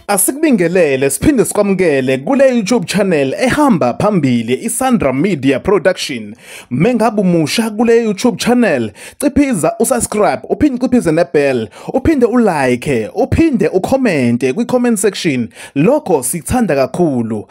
Asikubingelele siphinde sikwamukele kule YouTube channel ehamba phambili iSandra Media Production. Mengabe umusha kule YouTube channel, ciphiza usubscribe, uphinde ciphize nebell, uphinde ulike, uphinde ucommente kwi-comment section. Lokho sikuthanda kakhulu.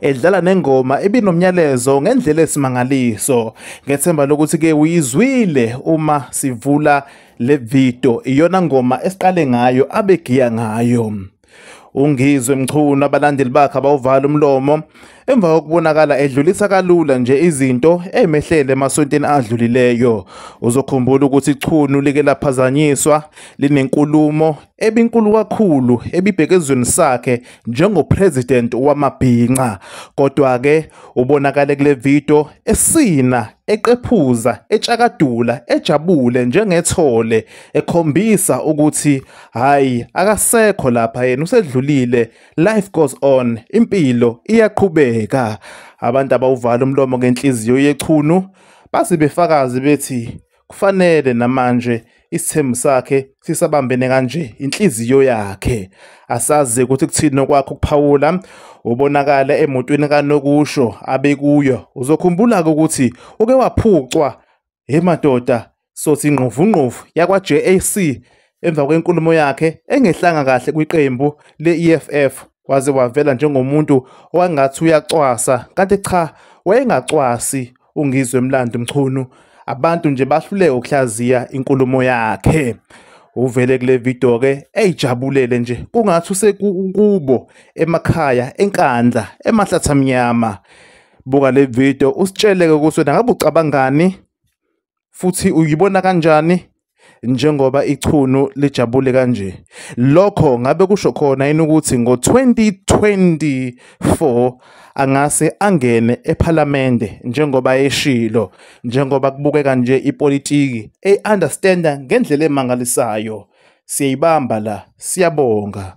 edlala nengoma ebinomnyalezo ngendlela esimangaliso ngethemba lokuthi ke uyizwile uma sivula le video iyona ngoma esiqale ngayo abegiya ngayo ungizwe mchunu abalandeli bakhe abawuvala umlomo emva kokubonakala edlulisa kalula nje izinto emehlele emasontweni adlulileyo uzokhumbula ukuthi ichunu like laphazanyiswa linenkulumo ebinkulu kakhulu ebibhekezweni sakhe njengopresident wamabhinca kodwa ke ubonakale kule video esina eqephuza etshakadula ejabule njengethole ekhombisa ukuthi hayi akasekho lapha yena usedlulile life goes on impilo iyaqhubeka abantu abawuvala umlomo ngenhliziyo yechunu basibefakazi bethi Kufanele namanje isithembu sakhe sisabambene kanje inhliziyo yakhe. Asazi ukuthi kuthini okwakho ukuphawula ubonakala emotweni kanokusho abekuyo. Uzokhumbula ke ukuthi uke waphucwa he madoda sothi ingqovungqovu yakwa JAC emva kwenkulumo yakhe engehlanga kahle kwiqembu le-EFF waze wavela njengomuntu owangathi uyacwasa kanti cha wayengacwasi UNgizwe Mlandi Mchunu abantu nje bahluleke ukuhlaziya inkulumo yakhe. Uvele kule video ke eyijabulele nje kungathi usekubo emakhaya eNkandla eMahlathamnyama. Buka le video usitshele ke ukuthi wena ngabe ucabangani futhi uyibona kanjani njengoba ichunu lijabule kanje lokho ngabe kusho khona yini ukuthi ngo-2024 angase angene ephalamende njengoba eshilo njengoba kubukeka nje ipolitiki eyi-understanda ngendlela emangalisayo siyayibamba la siyabonga